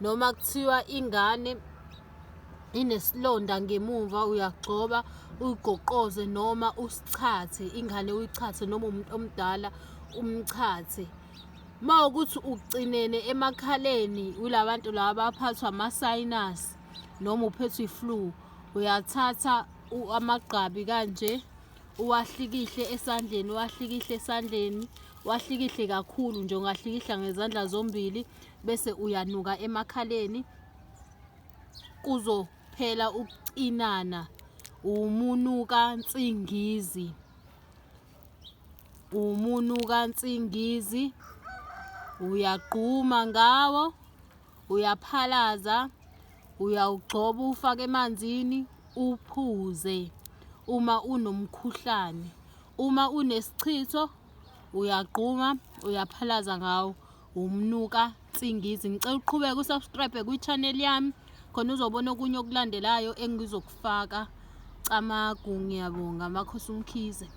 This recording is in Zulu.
noma kuthiwa ingane inesilonda ngemuva uyagcoba uyigoqoze noma usichathe ingane uyichathe noma umuntu omdala umchathe uma ukuthi ucinene emakhaleni ula bantu laba baphathwa ama-sinus noma uphethwe i-flu uyathatha amagqabi kanje uwahlikihle esandleni uwahlikihle esandleni wahlikihle kakhulu nje ungahlikihla ngezandla zombili bese uyanuka emakhaleni kuzophela ukucinana umunuka nsingizi umunuka nsingizi uyagquma ngawo uyaphalaza uyawugcoba ufake emanzini uphuze uma unomkhuhlane uma unesichitho uyagquma uyaphalaza ngawo wumnuka nsingizi ngicela uqhubeke usubscribe kwi-channel yami khona uzobona okunye okulandelayo engizokufaka camagu ngiyabonga makhosi umkhize